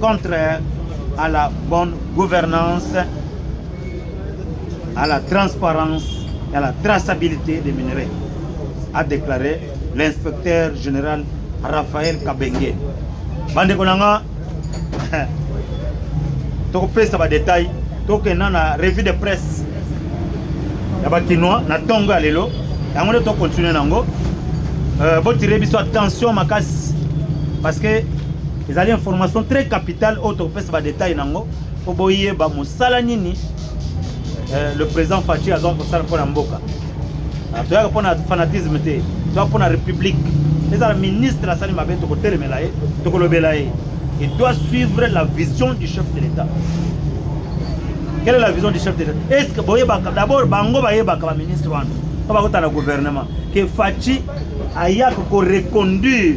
Contraire à la bonne gouvernance, à la transparence et à la traçabilité des minerais, a déclaré l'inspecteur général Raphaël Kabenge. Bande Konanga, tokopesa ba détails tokenda na revue de presse ya bakinois na ntongo ya lelo yango nde tokontinue nango euh, botire biso attention makasi parce que ezali information très capitale oyo tokopesa badetail nango mpo boyeba mosala nini euh, le président faci azwaka kosala mpo na mboka ah, toyaka mpo na fanatisme te toyaka mpo na république ezala ministre asali mabe tokotelemela ye tokolobela ye et doit suivre la vision du chef de l'état quelle est la vision du chef de l'état est ce que boyebaka d'abord bango bayebaka baministre wana mpo bakota na gouvernement ke faci ayaka koreconduire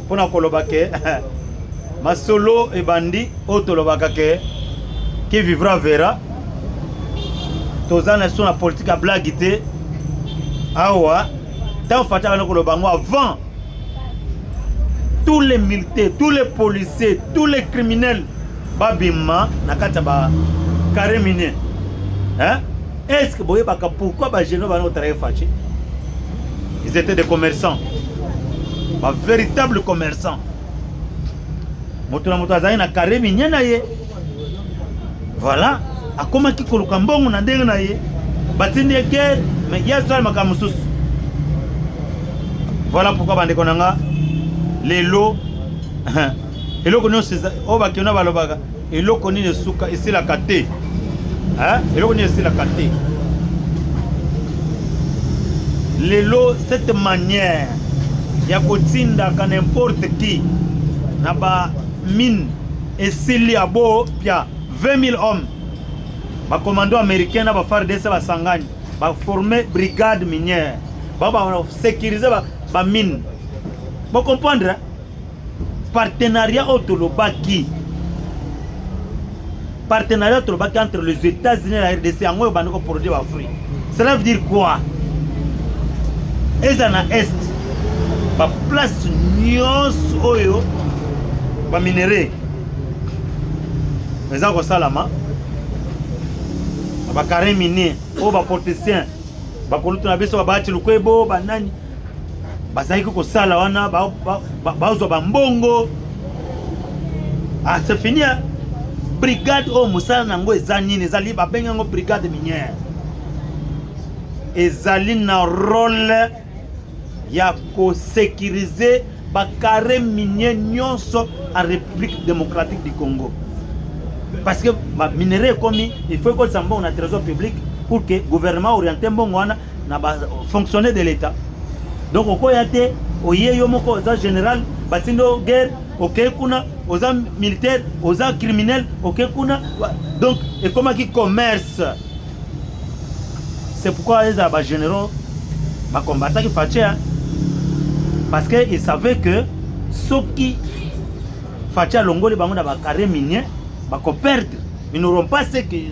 mpo na koloba ke masolo ebandi oyo tolobaka ke qui vivra verra toza na so na politike ya blage te awa ntango fati abandi koloba yango avant tous les militaires tous les policiers tous les criminels babima na kati ya ba carré minier hein? Est-ce que boyebaka pourquoi ba genoux bana otraye Fatshi? Ils étaient des commerçants. Ba véritables commerçants. Moto na moto azali na carré minier na ye. Voilà, akomaki koluka mbongo na ndenge na ye. Batindi ye guerre, mais ye asala makambo mosusu. Voilà pourquoi bandeko na nga lelo eloko nyonso oyo bakeno balobaka Eloko nini esuka esilaka te hein? Eloko nini esilaka te lelo cette manière ya kotindaka n'importe qui na ba mine esili ya bo pia 20 000 hommes bakomando américain na bafardc basangani baforme brigade minière babasécurise bamine bocomprendre partenariat oyo tolobaki partenariat tolobaki entre les états-unis na rdc yango oyo bandi koproduire bafruit cela veut dire quoi eza na est baplace nyonso oyo baminerai eza kosalama na bacarre minier oyo baportesien bakolutu na biso babati lukwebo banani bazalaki kosala wana bazwa bambongo ah, c'est fini hein? brigade oyo mosala na yango eza nini ezali babengi yango brigade minière ezali na role ya kosekirize bakare minier nyonso en république démocratique du congo parce que baminerai ekomi il faut ekolisa mbongo na trésor public pour que gouvernement oriente mbongo wana na ba fonctionnaire de l'etat donc okoya te oye yo moko oza général batindi o guerre okei kuna oza militaire oza criminel okei kuna donc ekomaki commerce c'est pourquoi ezala ba généraux bacombataki fache parce que il savait que soki fache alongoli bango na ba carré minier bakoperdre ils n'auront pas ce qu'ils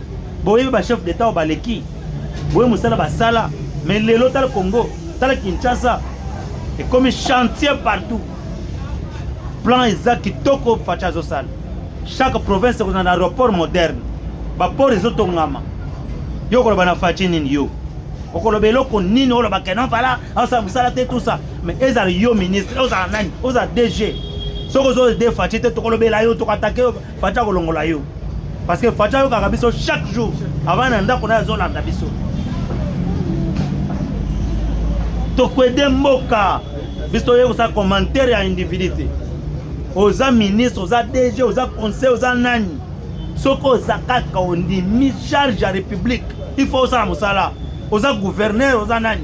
boyebi ba chef d'etat oyo baleki boye mosala basala me lelo tala congo tala kinshasa ekomi chantier partout plan eza kitoko faci azosala chaque province ekozala na aéroport moderne baport ezotongama yo okoloba na faci nini yo okoloba eloko nini oloba kenon vala asala mosala te tusa mais ezala yo ministre ozala nani ozala dg soki ozo de faci te tokolobela yo tokatake yo Fatshi akolongola yo parce que Fatshi ayokaka biso chaque jour avant na ndako naye azolanda biso tokwede mboka biso toye kosala commentaire ya individu te oza ministre oza dg oza conseil oza nani soki oza kaka ondimi charge ya république il faut osala mosala oza gouverneur oza nani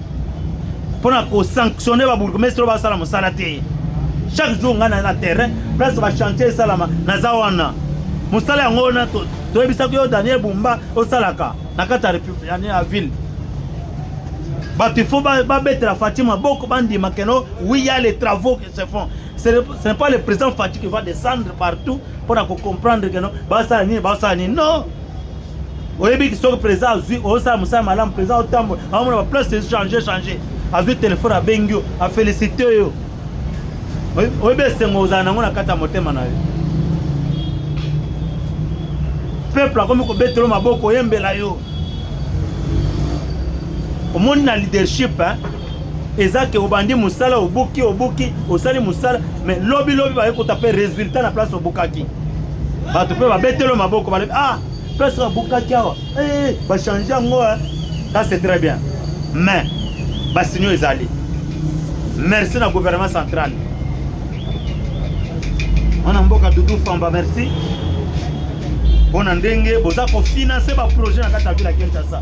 mpo na kosanctionne babourgmestre oyo basala mosala te chaque jour ngai na na terrain place bachantier esalama naza wana mosala yango wana toyebisaki yo daniel bumba osalaka na kati ya ville bato ifo babetela fati maboko bandima keno oui ya les travaux qui se font ce n'est pas le président fati qui va descendre partout mpo na kocomprendre keno basala nini basala nini non oyebi soki président azwi osala mosala malamu président otambola aomona baplace echange change azwi telefone abengi yo afélicité yo oyebi esengo ozala nango na kati ya motema na yo peuple akomi kobetelo maboko oyembela yo omoni na leadership hein? eza ke obandi mosala obuki obuki osali mosala me lobi lobi baye kota mpe resultat na place obukaki bato mpe babetelo maboko balobi ah place babukaki awa hey, eh, bachange yango ça c'est très bien mais basinio ezali merci na gouvernement central mwana mboka dudu famba merci mpo na ndenge boza kofinanse baprojet na kati ya vile ya kinshasa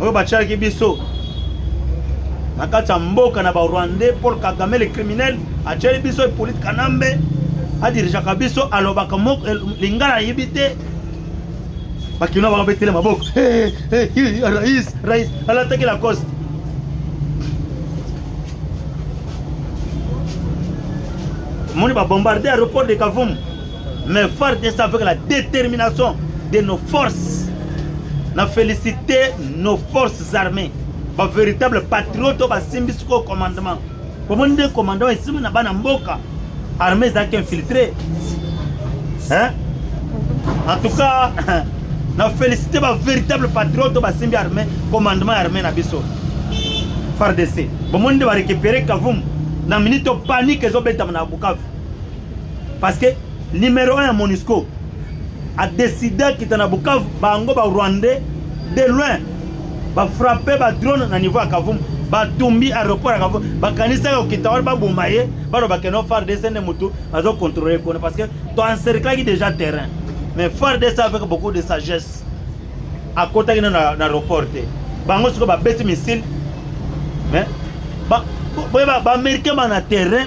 oyo batiaki biso na kati ya mboka na barwandais paul kagame le criminel atiaki biso epolite kanambe adirigeaka biso alobaka eh, lingala ayebi te bakino bango betele maboko eh, eh, rais rais alataki lacoste moni babombarde aéroport de kavumu Mais FARDC avec la détermination de nos forces, na féliciter nos forces armées, ba véritable patriote ba simbi siko commandement. Bomoni nde commandement esimbi na bana mboka, armée ezalaki infiltrée. Hein? En tout cas, na féliciter ba véritable patriote ba simbi armée, commandement armée na biso. FARDC. Bomoni nde ba récupérer Kavumu na minute panique ezobetama na Bukavu. parce que numéro 1 ya monusco adeside akita na bukavu bango ba rwandais de loin bafrappe badrone na niveau ya kavumu batumbi aéroport ya kavumu bakanisaki okita wana baboma ye balobake no fardc nde motu azocontrole kuna parce que toencerclaki déjà terrain mais fardc avec beaucoup de sagesse akotaki na na aéroport te bango sikoyo babeti missile mais boye baaméricain bana terrain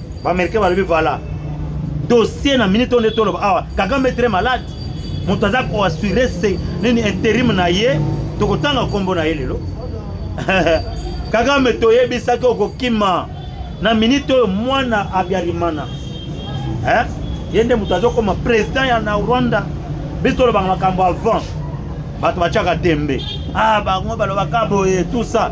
Ba Americains balobi voilà. Dossier na minute on est toloba awa. Kagame est très malade. Moto aza ko assurer c'est nini interim na ye. Tokotanga kombo na ye lelo. Kagame toyebisaki okokima na minute oyo mwana Abiarimana. Eh? Ye nde moto azokoma president ya na Rwanda. Biso tolobaka makambo avant. Bato batiaka tembe. Ah bango balobaka boye tout ça.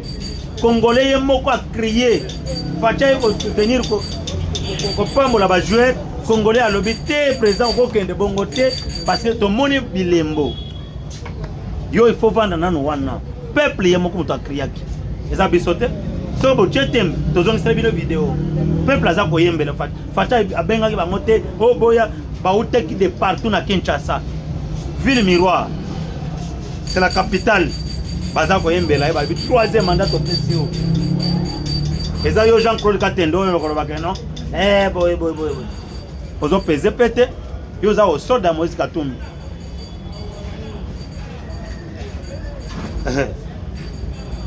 Congolais ye moko a crier Facha ye ko soutenir ko kopambola ba joueurs Congolais alobi te président okokende bongo te parce que tomoni bilembo yo il faut vanda nano wana peuple ye moko moto akriaki eza biso te soki botie tembe tozongisela bino video peuple aza koyembela Facha abengaki bango te oboya oh, bautaki de partout na Kinshasa ville miroir c'est la capitale baza koyembela ye balobi troisième mandat topesi yo eza yo jean claude katende oyo okolobaka no eh, boye boye boye ozopeze mpe te yo oza osoda moïse katumbi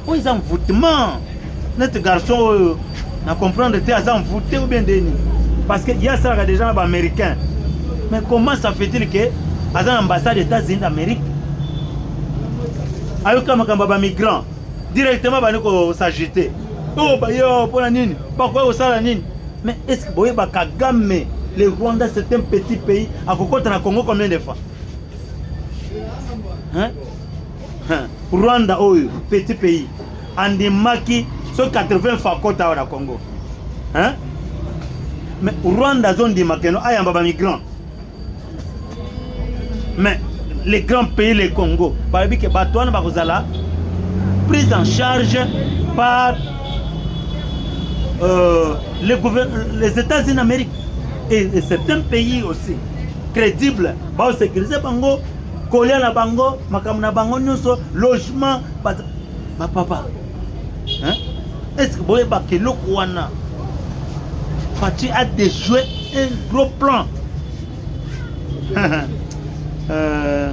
oyo eza envoûtement neti garçon oyo na comprendre te aza envoûté ou bien ndeni parce que ye asalaka déjà na baaméricain mais comment ça fait-il que aza na ambassade états-unis d'amérique ayoka makambo ya bamigrant directement bandi kosagite oyo oh, baye oh, mpona nini bakoya kosala nini mais est ce que boyeba kagame le rwanda c'est un petit pays akokota na congo combien de fois hein? Rwanda oyo petit pays andimaki so 80 fois kota awa na Congo hein? mais Rwanda azondima keno ayamba ba migrants mais les grands pays le Congo balobi ke bato wana bakozala prise en charge par euh, les, les États-Unis d'Amérique et, et certains pays aussi crédibles baosécurise bango kolia na bango makambo na bango nyonso logement bapapa estce boyebaka eloko wana faci a déjoué un gros plan euh...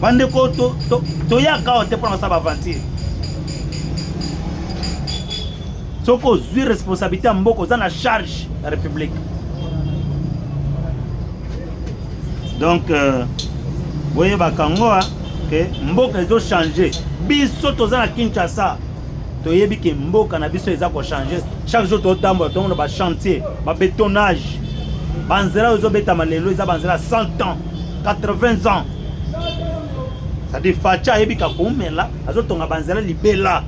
bandeko toyaka awa te mpona basala baaventure soki ozwi responsabilité ya mboka oza na charge ya république donc euh, boyebaka ngo ke mboka ezochange biso toza na kinshasa toyebi ke mboka na biso eza kochange chaque jour totambola tomona bachantier babetonnage banzela oyo ezobetama lelo eza banzela 100 ans 80 ans c'est-à-dire facha ayebi kakoumela azotonga banzela libela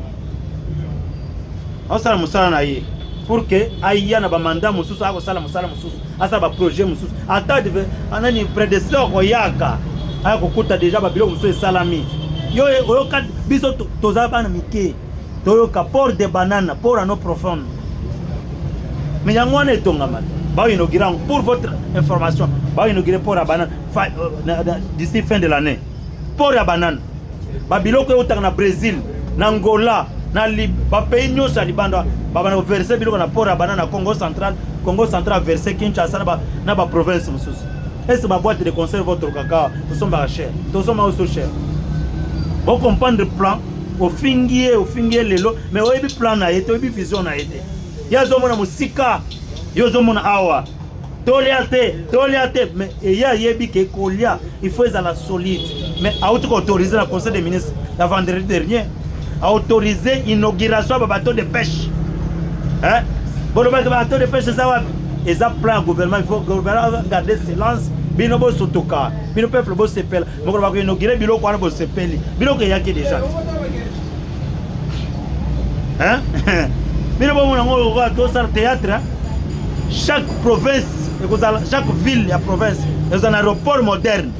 aosala mosala na ye pour que aya na bamanda mosusu akosala mosala mosusu asala baprojet mosusu ata anani predecesseur koyaka aya kokuta deja babiloko mosusu esalami yo oyoka biso toza bana mike toyoka port de banana port ano profonde me yango wana etongama te baoinaugura yango pour votre information baoinaugure port ya banane euh, d'ici fin de l'année port ya banane babiloko eutaka na brésil na angola na bapays nyonso ya libanda babanda koverse biloko na port ya banane na congo central congo central verse kinshasa na baprovince mosusu ese baboite de concert votre kaka tosombaka cher tosomba oso cher bocomprendre plan ofingi ye ofingi ye lelo mais oyebi plan na ye te oyebi vision na ye te ye azomona mosika yo ozomona awa tolia te tolia te mais eye ayebi ke kolia il faut ezala solide mais auti koautorise na conseil des ministres na vendredi dernier autorise inauguration ya babateau de pêche hein? bolobaki babateau de pêche eza wapi eza plan ya gouvernement il faut gouvernement garde silence bino bosutuka bino peuple bosepela mokolo bakoinogire biloko wana bosepeli biloko eyaki deja bino bomona yango lokola tosala théâtre chaque province ekozala chaque ville ya province ekozala na aéroport moderne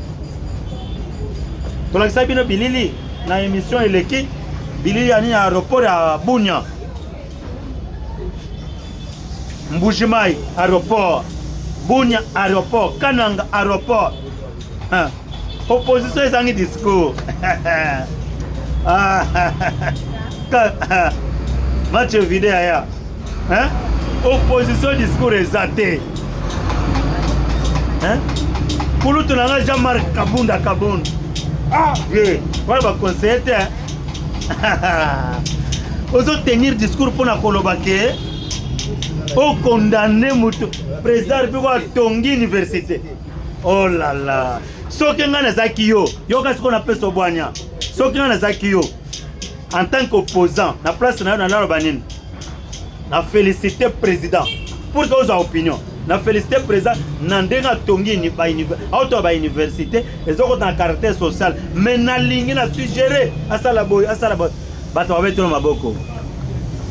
tolakisaki bino bilili na émission eleki bilili ya nini ya aéroport ya bunia mbujimai aéroport bunia aéroport kananga aéroport Ah, opposition ezangi discours. Ah, ah, match vide aya. Hein? Opposition discours eza te. Hein? Kulutu na nga Jean-Marc Kabunda Kabunda. Ah, ye. Wana ba conseiller te. Ozo tenir discours pona koloba ke o condamner moto président mpe ko atongi université. Oh la la. Soki nga nazaki yo, yo kasi ko na peso bwanya. Soki nga nazaki yo en tant qu'opposant na place na yo na nalo banini. Na féliciter président pour que aux opinions. Na féliciter président na ndenge atongi ni ba université, auto ba université ezoko na caractère social mais na lingi na suggérer asala boy asala boy. Bato babetelo maboko.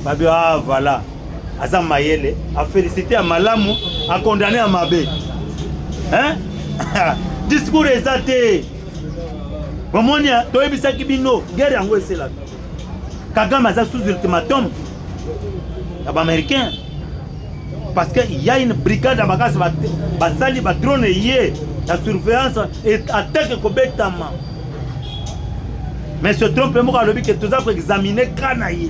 Babio ah voilà. aza mayele afelicite ya malamu akondane ya mabe discours eza te bomoni toyebisaki bino guerre yango eselaka kagame aza sous ultimatum ya baaméricain parce que ya une brigade ya makasi basali batrone ye ya surveillance attaque ekobetama mais se trompe moko alobi ke toza koexamine ka na ye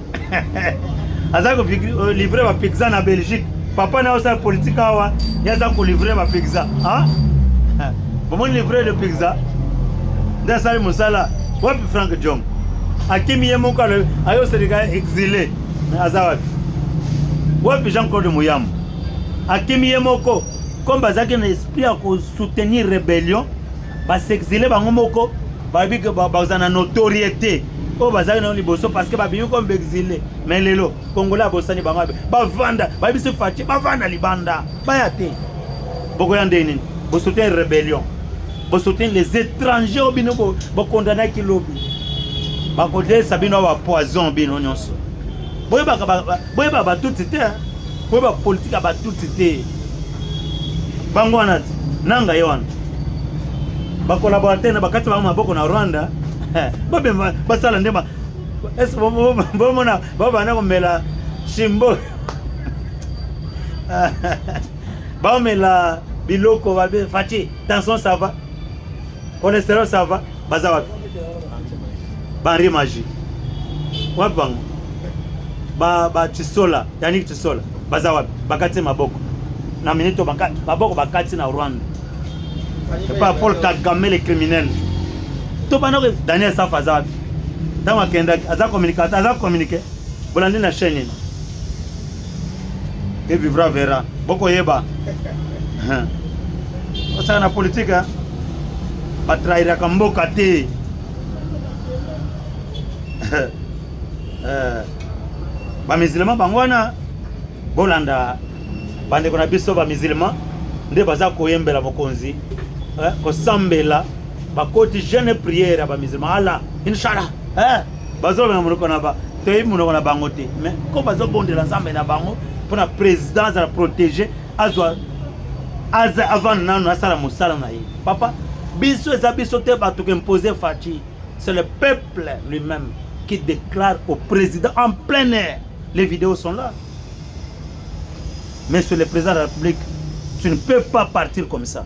aza ko euh, livrer ba pizza na Belgique papa na osala politique awa ya za ko livrer ba pizza ah bon livrer le pizza nda sali musala wapi Frank Jong akimi ye moko alobi ayo selika exilé aza wapi wapi Jean Claude Muyambo akimi ye moko comme bazalaki na esprit ya ko soutenir rébellion ba s'exiler bango moko bayebi ke bazala na notoriété oyo bazalaki nayo liboso parce que babimi comme baexile mais lelo congolais abosani bango abe bavanda bayebisi faci bavanda libanda baya te bokoya ndenge nini bosoutenir rébellion bosoutenir les étrangers oyo bino bokondanaki lobi bakodelisa bino awa poison bino nyonso boyebaka Boyeba ba tutsi te, boyeba politique ya ba tutsi te. Bango wana te, nanga ye wana. Ba collaborateur na bakati bango maboko na Rwanda. Babe basala ndema. Est-ce que bon mona baba na komela shimbo. Baomela biloko babe Fatshi, tension ça va? Cholesterol ça va? Baza wapi? Banri magie. Wapi bango? Ba ba Chisola, Yannick Chisola. Baza wapi? Bakati maboko. Na minute bakati maboko bakati na Rwanda. Epa Paul Kagame le criminel. To bana ko Daniel Safa aza wapi? Tango akendaki aza communicateur, aza communiquer. Bolandi na chaîne nini? Qui vivra verra. Boko yeba. Osaka na politique hein. Ba trahiraka mboka te. Eh. Ba musulman bango wana bolanda bandeko na biso ba musulman nde baza koyembela mokonzi eh, kosambela bakoti jeune prière ya ba musulman ala inshallah eh, bazolobela monoko na ba toyebi monoko na bango te mais comme bazobondela nzambe na bango mpona président azala protégé azwa aza avanda nano asala mosala na ye papa biso eza biso te bato koimpose faci c'est le peuple lui-même qui déclare au président en plein air les vidéos sont là mais sur le président de la république tu ne peux pas partir comme ça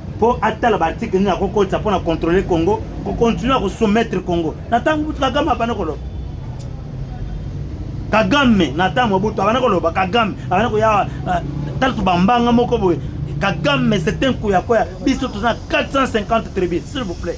mpo atala ba article nini akokotisa mpo na contrôler congo kocontinue ya kosoumettre congo na ntango butu kagame abanda koloba kagame na ntango butu abanda koloba kagame abanda koya ah, tala tobambanga moko boye kagame c'est un kuyakoya biso toza na 450 tribu s'il vous plaît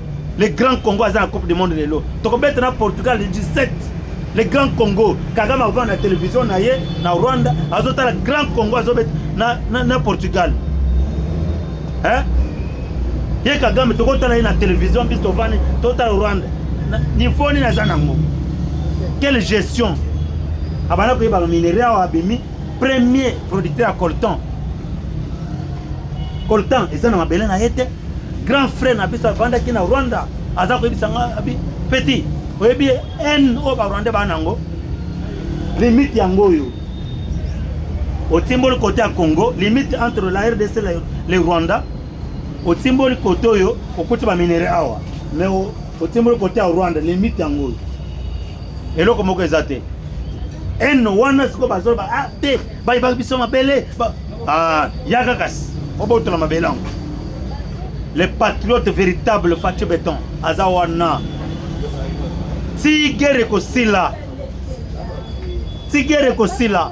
le grand congo aza na coupe du monde lelo tokobeta na portugal le 17 le grand congo kagame akovanda na televizio na ye na rwanda azotala grand congo azobeta na, na, na portugal eh? ye kagame tokotala ye na televizio mpe tovani totala rwanda nivo nini aza nango quelle gestion abanda koyeba baminerai awa abimi premier producteur ya colton colton eza na mabele na ye te grand frère na biso avandaki na rwanda aza koyebisa nga abi petit oyebi haine oyo barwandais baa nango limite yango oyo otimboli kote ya congo limite entre la rdc le rwanda otimboli kote oyo okuti baminere awa mais otimboli kote ya rwanda limite yango oyo eloko moko eza te eno wana sikoyo bazoloba a ah, te bayebaki biso mabele ah, yaka kasi obotola mabele yango le patriote véritable faci beton aza wana ti gere ekosila ti gere ekosila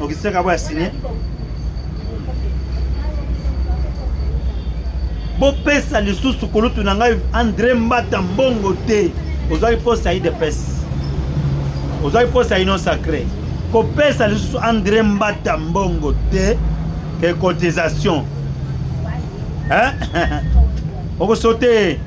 Augustin Kabo ya signé bopesa lisusu kulutu na ngai Andre Mbata mbongo te ozwaki poste ya idps ozwaki poste ya union sacré kopesa lisusu Andre Mbata mbongo te ke cotisation okosote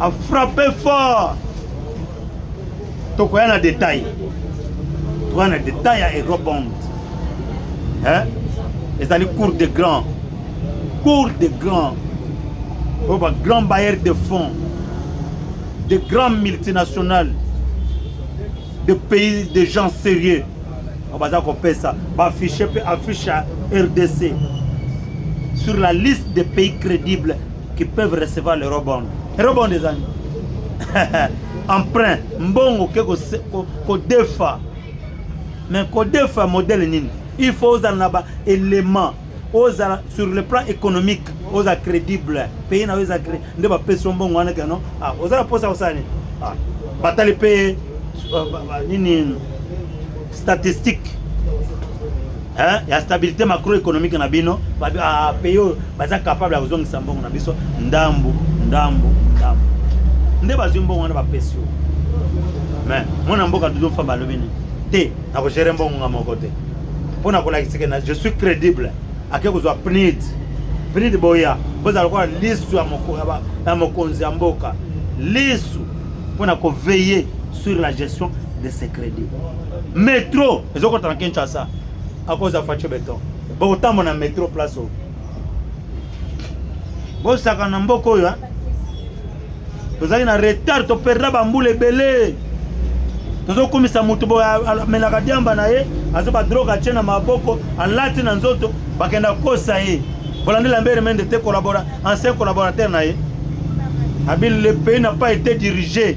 a frappe fort tokoya na détail tokoya na détail ya eurobond hein? ezali cour de grand cour de grand oyo ba grand bailleur de fonds de grand multinational de pays de gens sérieux oyo baza kopesa baaffiche mpe affiche ya rdc sur la liste des pays crédibles qui peuvent recevoir le rebond rebond eza nini emprunt mbongo ke kodefa mais kodefa modèle nini il faut ozala na ba élément ozala sur le plan économique oza crédible pays na yo eza nde bapesi yo mbongo wana keno ah, oza na mposa kosala nini ah, batali mpe euh, nini statistique hein, ya stabilité macroéconomique na bino ah, pays oyo baza capable ya kozongisa mbongo na biso ndambu ndambu ndambu nde bazwi mbongo wana bapesi yo mais mwana mboka dudu famba alobi nini te nakogere mbongo nga moko te mpo na kolakisike na je suis crédible ake kozwa pnid pnid boya bozala lokola lisu ya mokonzi ya mboka lisu mpo na koveye sur la gestion de ce crédit metro ezokota na kinshasa akoza faco beton bokotambola na metro place oyo bosaka na mboka oyo tozali na retard toperda bambula ebele tozokumisa moto boye amelaka diamba na ye azo badroge atye na maboko alati na nzoto bakenda kosa ye bolandela mbere mende te ancien collaborateur na ye abi le pays na pas été dirigé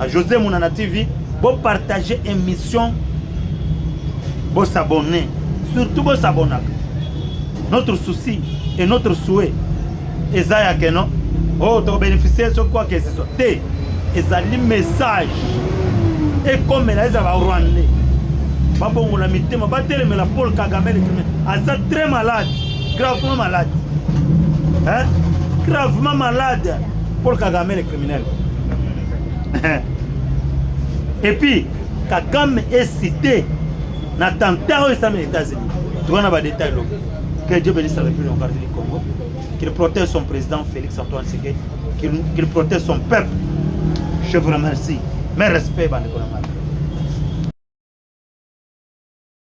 A José Munana TV, bo partager émission, bo s'abonner, surtout bo s'abonner. Notre souci et notre souhait eza ya que non oh to bénéficier ce quoi que ce soit te ezali message ekomela eza ba rwandais babongola mitema batelemela paul kagame letrime aza très malade gravement malade hein? gravement malade paul kagame criminel et puis kakame est cité na attentat oyo esami na états-unis towana badetail lobi que dieu bénisse la république démocratique du congo qu'il protège son président félix antoine seke qu'il protège son peuple je vous remercie mes respects bandeko na ngai